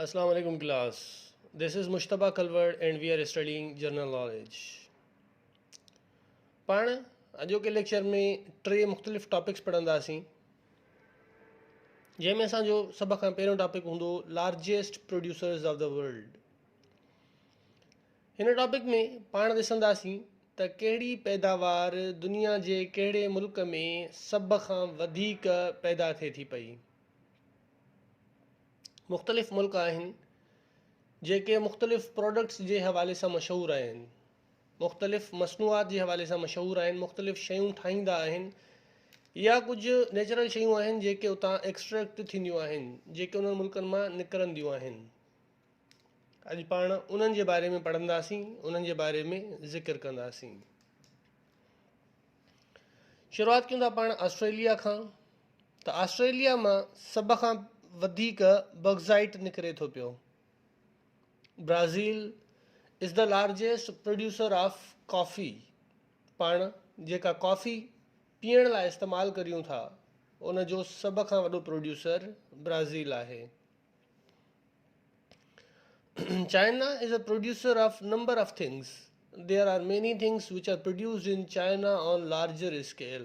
اسلام عليڪم class this is Mujtaba Kalhoro and we are studying general knowledge پاڻ اڄوڪي ليڪچر ۾ ٽي مختلف ٽاپڪس پڙهنداسين جنهن ۾ اسانجو سڀ کان پهريون ٽاپڪ هوندو largest producers of the world هن ٽاپڪ ۾ پاڻ ڏسنداسين ته ڪهڙي پيداوار دنيا جي ڪهڙي ملڪ ۾ سڀ کان وڌيڪ پيدا ٿئي ٿي پئي مختلف ملڪ آهن جيڪي مختلف پروڊڪٽس جي حوالي سان مشهور آهن مختلف مصنوعات جي حوالي سان مشهور آهن مختلف شيون ٺاهيندا آهن يا ڪجهه نيچرل شيون آهن جيڪي اتان ايڪسٽريڪٽ ٿينديون آهن جيڪي انهن ملڪن مان نڪرنديون آهن اڄ پاڻ انهن جي باري ۾ پڙهنداسين انهن جي باري ۾ ذڪر ڪنداسين شروعات ڪيون ٿا پاڻ آسٽريليا کان ته آسٽريليا مان سڀ کان وڌيڪ باڪسائيٽ نڪري ٿو پيو. Brazil is the largest producer of coffee. پاڻ جيڪا ڪافي پيئڻ لاء استعمال ڪريون ٿا ان جو سڀ کان وڏو پروڊيوسر برازيل آهي. China is the producer of number of things. There are many things which are produced in China on larger scale.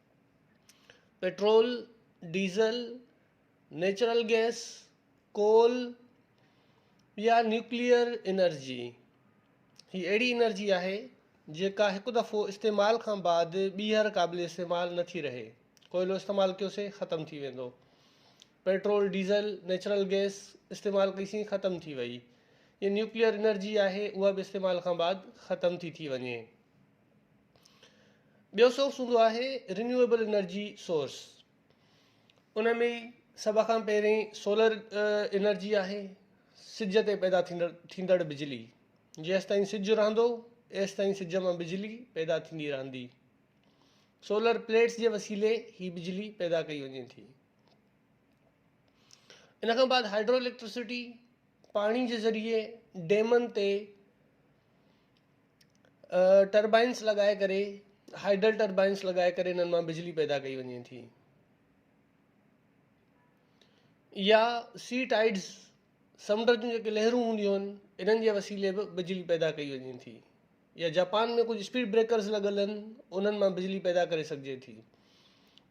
Petrol, diesel, natural gas, coal يا نيوڪليئر انرجي هي اهڙي انرجي آهي جيڪا هڪ دفعو استعمال کان بعد ٻيهر قابل استعمال نه ٿي رهي ڪوئلو استعمال ڪيوسين ختم ٿي ويندو پيٽرول ڊيزل نيچرل گئس استعمال ڪئيسين ختم ٿي وئي نيوڪليئر انرجي آهي اها به استعمال کان بعد ختم ٿي ٿي وڃي ٻيو سورس هوندو آهي رينيويبل انرجي سورس ان ۾ سڀ کان پهرين سولر انرجي آهي سج تي پيدا ٿيندڙ ٿيندڙ بجلي جيستائين سج رهندو ايستائين سج مان بجلي پيدا ٿيندي رهندي سولر پليٽس جي وسيلي هي بجلي پيدا ڪئي وڃي ٿي ان کان بعد هائڊرو اليڪٽرسٽي پاڻي جي ذريعي ڊيمن تي ٽربائنس لڳائي ڪري هائيڊل ٽربائنس لڳائي ڪري انهن مان بجلي پيدا ڪئي وڃي ٿي يا سي ٽائيڊز سمنڊ جون جيڪي لهرون هونديون آهن انهن جي وسيلي به بجلي پيدا ڪئي وڃي ٿي يا جاپان ۾ ڪجهه اسپيڊ بريڪرز لڳل آهن انهن مان بجلي پيدا ڪري سگهجي ٿي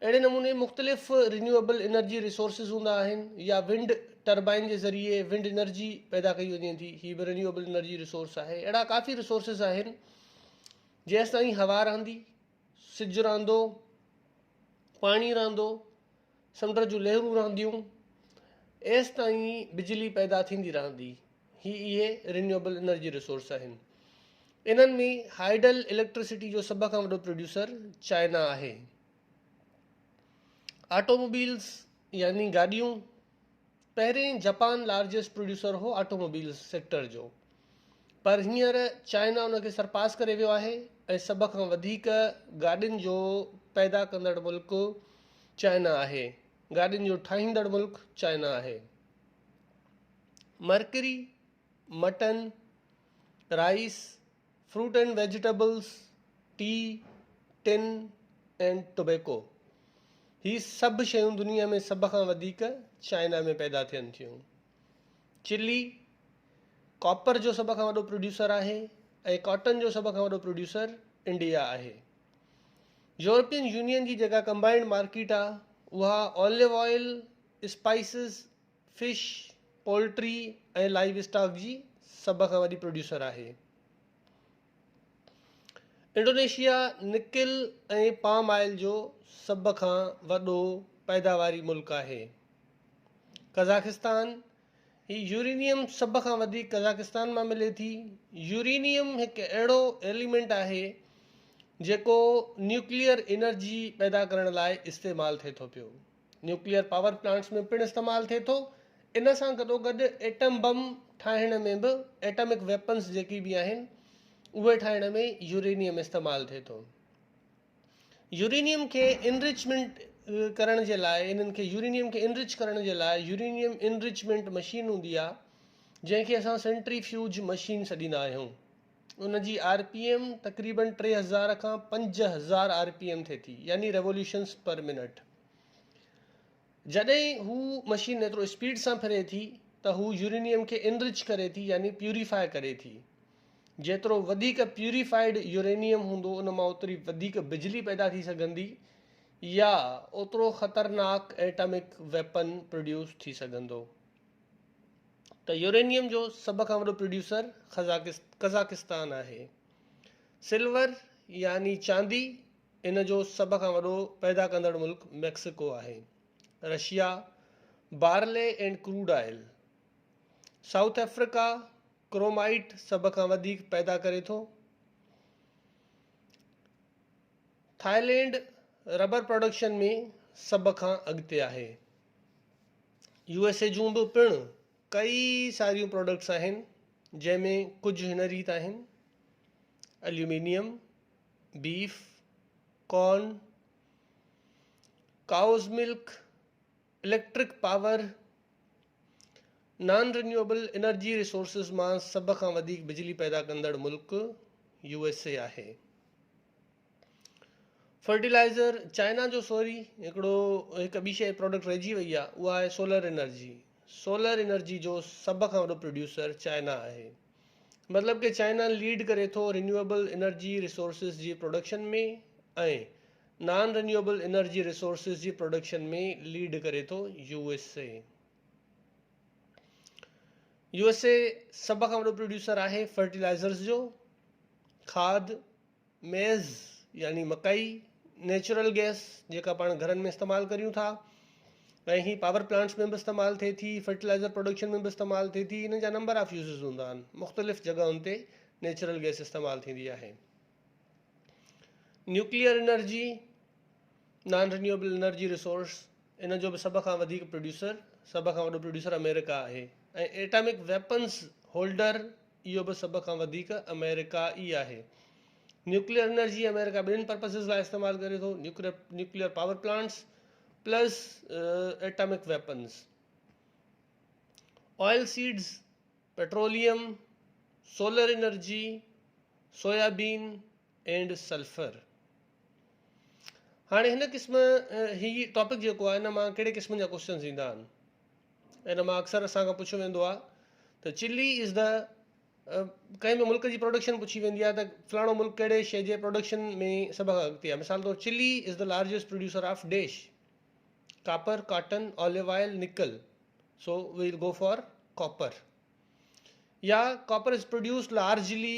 اهڙي نموني مختلف رينيوئيبل انرجي ريسورسز هوندا آهن يا ونڊ ٽربائن جي ذريعي ونڊ انرجي پيدا ڪئي وڃي ٿي هي به رينيوئيبل انرجي ريسورس آهي اهڙا ڪافي ريسورسز آهن جيستائين هوا رهندي سج رهندو پاڻي رهندو سمنڊ جون لهرون رهنديون ايستائين بجلي پيدا ٿيندي رهندي هي اهي رينيوبل انرجي ريسورس آهن. انهن ۾ هائيڊل اليڪٽرسٽي جو سڀ کان وڏو پروڊيوسر چائنا آهي. آٽوموبيلز يعني گاڏيون پهرين جپان لارجسٽ پروڊيوسر هو آٽوموبيلز سيڪٽر جو پر هينئر چائنا ان کي سرپاس ڪري ويو آهي ۽ سڀ کان وڌيڪ گاڏين جو پيدا ڪندڙ ملڪ چائنا آهي گاڏين جو ٺاهيندڙ ملڪ چائنا آهي mercury, mutton, rice, fruit and vegetables, tea, ٽن اينڊ ٽوبيڪو هي سڀ شيون دنيا ۾ سڀ کان وڌيڪ چائنا ۾ پيدا ٿين ٿيون چلي ڪاپر جو سڀ کان وڏو پروڊيوسر آهي ۽ ڪاٽن جو سڀ کان وڏو پروڊيوسر انڊيا آهي يورپين يونين جي جيڪا ڪمبائنڊ مارڪيٽ آهي اها olive oil spices, fish, poultry ۽ livestock جي سڀ کان وڏي پروڊيوسر آهي. انڊونيشيا نڪل ۽ پام آئل جو سڀ کان وڏو پيداواري ملڪ آهي. قزاقستان، هي يورينيم سڀ کان وڌيڪ قزاقستان مان ملي ٿي. يورينيم هڪ اهڙو ايليمينٽ آهي جيڪو نيوڪليئر انرجي پيدا ڪرڻ لاء استعمال ٿئي ٿو پيو. نيوڪليئر پاور پلانٽس ۾ پڻ استعمال ٿئي ٿو. ان سان گڏوگڏ ايٽم بم ٺاهڻ ۾ به ايٽمڪ ويپنز جيڪي به آهن اهي ٺاهڻ ۾ يورينيم استعمال ٿئي ٿو. يورينيم کي انرچمينٽ ڪرڻ جي لاء انهن کي يورينيم کي انرچ ڪرڻ جي لاء يورينيم انرچمينٽ مشين هوندي آهي جنهن کي اسان سينٽري فيوج مشين سڏيندا آهيون. ان جي آر پي ايم تقريباً ٽي هزار کان پنج هزار آر پي ايم ٿئي ٿي يعني ريوليوشنس پر منٽ. جڏهن هو مشين ايترو اسپيڊ سان ڦري ٿي ته هو يورينيم کي انرچ ڪري ٿي يعني پيوريفائي ڪري ٿي. جيترو وڌيڪ پيوريفائيڊ يورينيم هوندو ان مان اوتري وڌيڪ بجلي پيدا ٿي سگهندي يا اوترو خطرناڪ ايٽامڪ ويپن پروڊيوس ٿي سگهندو. ته يورينيم جو سڀ کان وڏو پروڊيوسر قزاقستان آهي. سلور يعني چاندي ان جو سڀ کان وڏو پيدا ڪندڙ ملڪ ميڪسيڪو آهي. Russia barley and crude oil. South Africa chromite سڀ کان وڌيڪ پيدا ڪري ٿو. ٿائلينڊ ربر پروڊڪشن ۾ سڀ کان اڳتي آهي. يو ايس اي جون به پڻ ڪئي ساريون پروڊڪٽس آهن جنهن ۾ ڪجهه هن ريت آهن aluminium beef corn cows milk electric power non renewable energy resources مان سڀ کان وڌيڪ بجلي پيدا ڪندڙ ملڪ يو ايس اي آهي فرٽيلائزر چائنا جو سوري هڪڙو هڪ ٻي شيء پروڊڪٽ رهجي وئي آهي اها آهي سولر انرجي سولر انرجي جو سڀ کان وڏو پروڊيوسر چائنا آهي مطلب ڪي چائنا ليڊ ڪري ٿو رينيوبل انرجي ريسورسز جي production ۾ ۽ non renewable energy resources جي پروڊڪشن ۾ ليڊ ڪري ٿو U S A U S A سڀ کان وڏو پروڊيوسر آهي فرٽيلائزرز جو کاد ميز يعني مڪئي، نيچرل گيس جيڪا پاڻ گهرن ۾ استعمال ڪريون ٿا ۽ هي پاور پلانٽس ۾ به استعمال ٿئي ٿي فرٽيلائزر پروڊڪشن ۾ به استعمال ٿئي ٿي هن جا نمبر آف يوزز هوندا آهن مختلف جڳهن تي نيچرل گيس استعمال ٿيندي آهي nuclear energy non renewable energy resource ان جو به سڀ کان وڌيڪ پروڊيوسر سڀ کان وڏو پروڊيوسر آمريڪا آهي ۽ ايٽامڪ ويپنس هولڊر اهو به سڀ کان وڌيڪ آمريڪا ئي آهي. نيوڪليئر انرجي آمريڪا ٻنهن پرپسز لاء استعمال ڪري ٿو، nuclear power plants plus atomic weapons. Oil seeds, petroleum, solar energy, soybean, and sulphur هاڻي هن قسم هي ٽاپڪ جيڪو آهي هن مان ڪهڙي قسم جا ڪوشچنز ايندا آهن ان مان اڪثر اسان کان پڇيو ويندو آهي ته چلي از دا ڪنهن به ملڪ جي پروڊڪشن پڇي ويندي آهي ته فلاڻو ملڪ ڪهڙي شي جي پروڊڪشن ۾ سڀ کان اڳتي آهي مثال طور Chile is the largest producer of dash copper cotton olive oil nickel so well go for copper يا copper is produce largely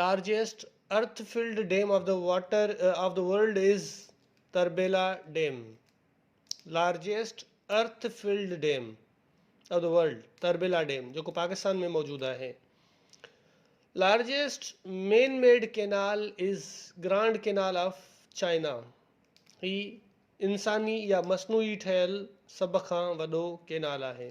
largest earth flood dam of the water of the world is Tarbela dam largest earth flood dam of the world Tarbela dam جيڪو پاڪستان ۾ موجود آهي largest man made canal is grand canal of China هي انساني يا مصنوعي ٺهيل سڀ کان وڏو ڪينال آهي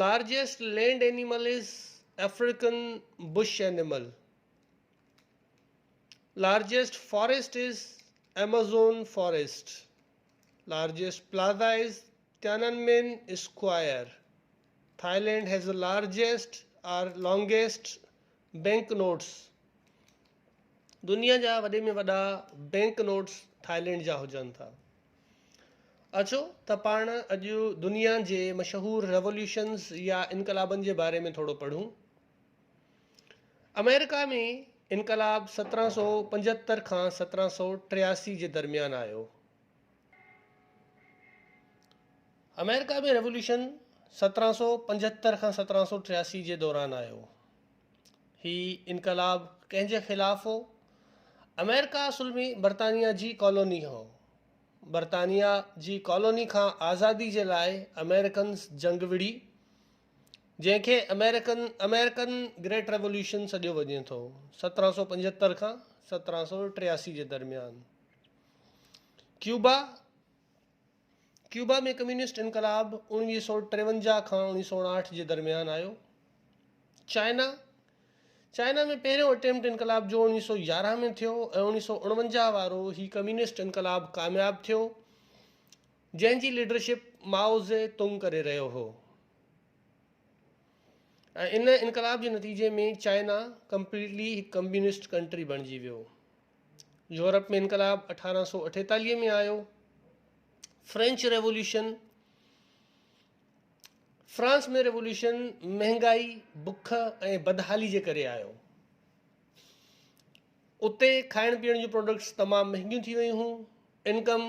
largest land animal is African bush animal. Largest forest is Amazon forest. Largest plaza is Tiananmen square. Thailand has a largest or longest bank notes. دنيا جا وڏي ۾ وڏا بينڪ نوٽس ٿائلينڊ جا هجن ٿا. اچو ته پاڻ اڄ دنيا جي مشهور ريولوشنز يا انقلابن جي باري ۾ ٿورو پڙهون. آمريڪا ۾ انقلاب سترهن سؤ پنجهتر کان سترهن سؤ ٽياسي جي درميان آيو. آمريڪا ۾ ريولوشن سترهن سؤ پنجهتر کان سترهن سؤ ٽياسي جي دوران آيو. هي انقلاب ڪنهن جي خلاف هو؟ آمريڪا اصل ۾ برطانيا جي ڪالوني هو. برطانيا جي ڪالوني کان آزادي جي لاء آمريڪنز جنگ وڙهي، جنهن کي آمريڪن American Great Revolution سڏيو وڃي ٿو، سترهن سؤ پنجهتر کان سترهن سؤ ٽياسي جي درميان. ڪيوبا، ڪيوبا ۾ ڪميونسٽ انقلاب اوڻويهه سؤ ٽيونجاهه کان اوڻويهه سؤ اڻاهٺ جي درميان آيو. چائنا، چائنا ۾ پهريون اٽيمپٽ انقلاب جو اوڻويهه سؤ يارهن ۾ ٿيو ۽ اوڻويهه سؤ اڻونجاهه وارو هي ڪميونسٽ انقلاب ڪامياب ٿيو، جنهن جي ليڊرشپ مائو زي تونگ ڪري رهيو هو ۽ ان انقلاب جي نتيجي ۾ چائنا ڪمپليٽلي هڪ ڪميونسٽ ڪنٽري بڻجي ويو. يورپ ۾ انقلاب اٺارهن سؤ اٺيتاليهه ۾ آيو. فرينچ ريوليوشن، فرانس ۾ ريوليوشن مهنگائي، بک ۽ بدحالي جي ڪري آيو. اتي کائڻ پيئڻ جون پروڊڪٽس تمام مهنگيون ٿي ويون هيون. انڪم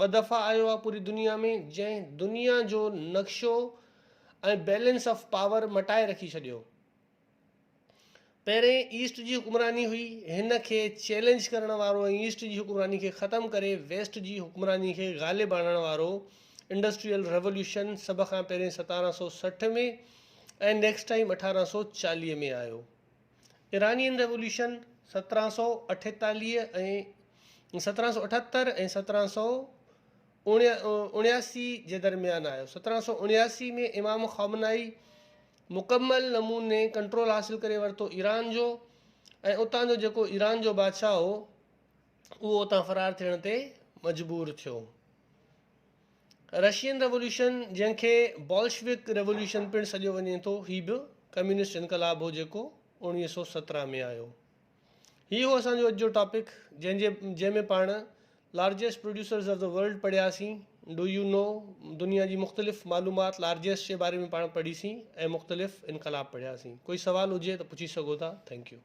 ٻه دفعا آيو آ پوري دنيا ۾ جنهن دنيا جو نقشو ۽ بيلنس آف پاور مٽائي رکي ڇڏيو. پهرين ايسٽ جي حڪمراني هئي هن کي چيلنج ڪرڻ وارو ۽ ايسٽ جي حڪمراني کي ختم ڪري ويسٽ جي حڪمراني کي غالب آڻڻ وارو انڊسٽريل ريوليوشن سڀ کان پهرين ستارهن سؤ سٺ ۾ ۽ نيڪسٽ ٽائيم اٺارهن سؤ چاليهه ۾ آيو. ايرانين ريوليوشن سترهن سؤ اٺيتاليهه ۽ سترهن سؤ اٺهتر ۽ سترهن سؤ اڻياسي جي درميان آيو. سترهن سؤ اڻياسي ۾ امام خامنائي مڪمل نموني ڪنٽرول حاصل ڪري ورتو ايران جو ۽ اتان جو جيڪو ايران جو بادشاهه هو اهو اتان فرار ٿيڻ تي مجبور ٿيو. رشين ريوليوشن، جنهن کي بولشوڪ ريوليوشن پڻ سڏيو وڃي ٿو، هي به ڪميونسٽ انقلاب هو جيڪو اوڻويهه سؤ سترهن ۾ آيو. هي هو اسان جو اڄ جو ٽاپڪ جنهن جي جنهن ۾ پاڻ largest producers of the world پڙهيا سين، ڊو يو نو، دنيا جي مختلف معلومات لارجيسٽ جي باري ۾ پاڻ پڙهي سين ۽ مختلف انقلاب پڙهيا سين. ڪوئي سوال هجي ته پڇي سگهو ٿا. Thank U.